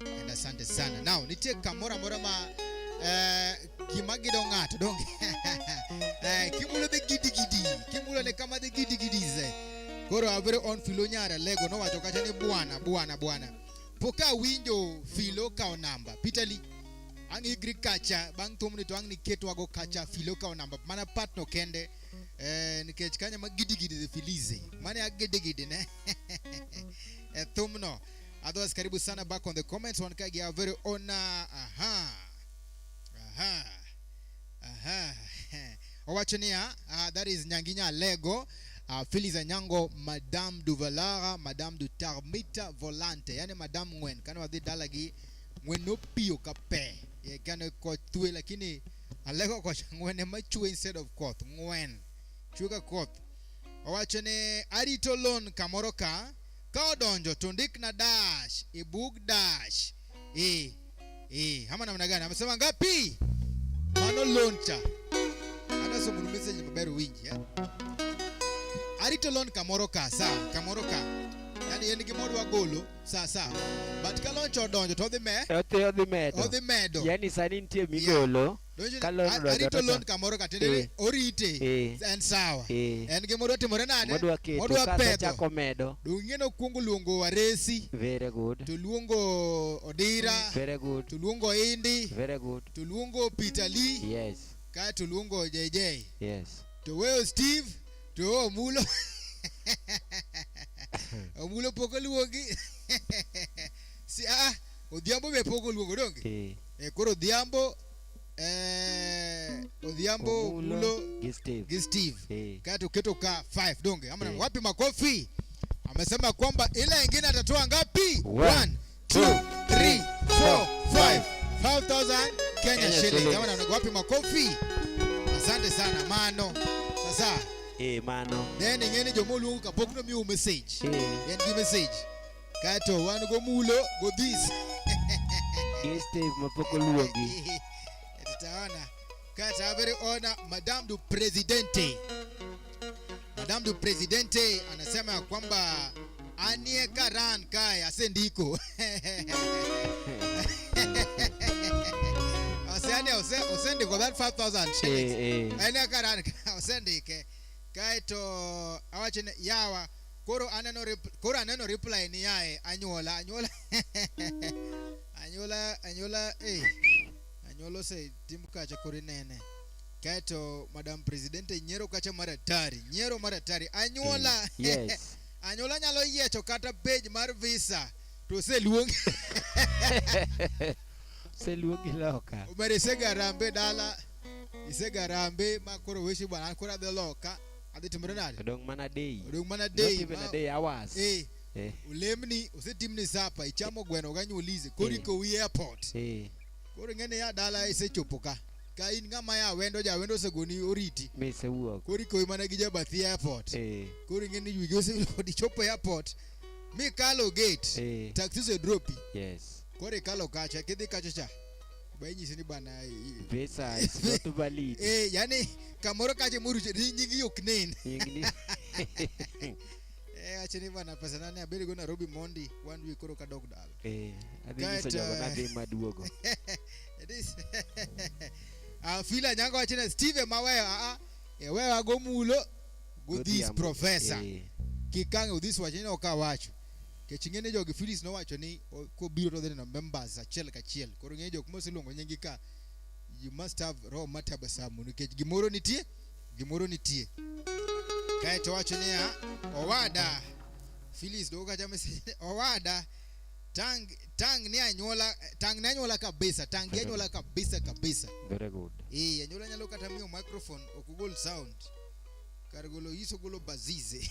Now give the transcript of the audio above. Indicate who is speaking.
Speaker 1: And asante sana. Now nitie kamora mora ma eh, gima gido ng'ato donge eh, kimulo de gidi gidi kimulo ne kama de gidi gidi ze koro avere on filo nyara lego nowacho kata ni bwana bwana bwana poka winjo filo kao namba pitali ang igri kacha bang' thumni to ang' niketwago kacha filo kao namba mana patno kende eh, nikech kanya ma gidigidi the filize mane agidegidi ne e thumno Otherwise, karibu sana back on the comments. One kagi our very own. uh, Aha. Aha. Aha. Owachonia, uh, that is Nyanginya Lego. Uh, Phyllis Anyango, Madame Duvalara, Madame du Tarmita Volante. Yani Madame Ngwen. Kana wadhi dalagi Ngwen no pio kape. Ye kana kwa tue lakini Alego kwa Ngwen ema chue instead of koth. Ngwen. Chuka koth. Owacho ni arito loan kamoro ka ka odonjo to ndikna dash e bug dash e e ama namna gani amesema ngapi mano loncha anasomo message maber winji eh? arito lon kamoro ka sa kamoro ka yani en gimoro wagolo sa sa but ka loncha odonjo to odhi me Odhi odhi medo. odhi medo Yani sani nitie
Speaker 2: migolo arito
Speaker 1: loan kamoro katende eh. orite eh. en sawa eh. en gi modwa timore nade modwa pedho medo
Speaker 2: dung'e no kuongo luongo
Speaker 1: waresi very good to
Speaker 2: luongo
Speaker 1: odira mm, very good to luongo
Speaker 2: indi
Speaker 1: very good to luongo
Speaker 2: peter
Speaker 1: lee yes ka to
Speaker 2: luongo
Speaker 1: jj yes to
Speaker 2: weyo steve
Speaker 1: to omulo omulo pok oluongi si ah Odhiambo be pok oluongo donge? Eh. Eh, koro Odhiambo eh, Odhiambo Omulo, Mulo gi Steve. gi Steve Eh. kati uketo ka 5 donge ama Eh. wapi makofi amesema kwamba ile ingine atatoa ngapi One, 1 two, 2 3 4 5 5000 Kenya Kenya shillings shillings. ama na- wapi makofi asante sana mano sasa Eh, mano.
Speaker 2: then ingene jomo
Speaker 1: luongo kapok no miu message Eh. then give message Kato wan go mulo go this.
Speaker 2: Yes, Steve Mapoko Luongi. Tutaona.
Speaker 1: Kata habari ona Madame du Presidente. Madame du Presidente anasema ya kwamba anie karan kaya sendiko. Osende ose osende kwa 5000 Eh, shillings. eh. Anie karan kaya osendike. Kaito awachene yawa koro aneno koro aneno reply ni yae anyuola anyuola anyuola anyuola eh anyuola ose tim kacha kori nene kaeto madam president nyiero kacha mar atari nyiero mar atari anyuola mm, yes.
Speaker 2: anyuola nyalo
Speaker 1: yiecho kata page mar visa to oseluong
Speaker 2: oseluongi loka omedo isegarambe
Speaker 1: dala isegarambe ma koro weshi bwana koro adhi loka adhi timore nade odong mana day odong
Speaker 2: mana day even a day
Speaker 1: hours eh
Speaker 2: eh olemni
Speaker 1: osetimni sapa ichamo eh. gweno ganyuolize koro eh. iko wi airport eh koro ng'ene ya dala isechopo ka ka in ng'ama ya wendo ja wendo osegoni oriti misewuok koro ikowi
Speaker 2: mana gi jabathi
Speaker 1: airport eh koro ing'eni yugi osepod ichopo airport mikalo gate eh. taxi osedropi yes koro
Speaker 2: ikalo kacha
Speaker 1: kidhi kacha cha bainyisi ni bana i- Visa is
Speaker 2: not valid. eh, yani
Speaker 1: kamoro kache muru ni nyingi yok nen Ingni. eh, ache ni bana pesa nane abedi go Nairobi Mondi one week koro kadok dala Eh, adhi nyiso Kaeto,
Speaker 2: jogo eh, nadhi maduogo. It is.
Speaker 1: Ah, fila nyango achina Steve mawewa ah, eh, wewa go mulo go this Godhiambo. professor Eh. kikange udhis wachina okawacho kech ing'e ni jogi Phyllis nowacho ni kobiro to dhineno members achiel kachiel koro ing'e jok moseluongo nyingi ka you must have roho matabasamu nikech gimoro nitie gimoro nitie kae to wacho niya owada Phyllis dogo kacha message owada tang tang ni anyuola tang ni anyuola kabisa tang ni anyuola kabisa kabisa very good
Speaker 2: eh anyuola nyalo kata
Speaker 1: miyo microphone okugol sound kar golo iso golo bazize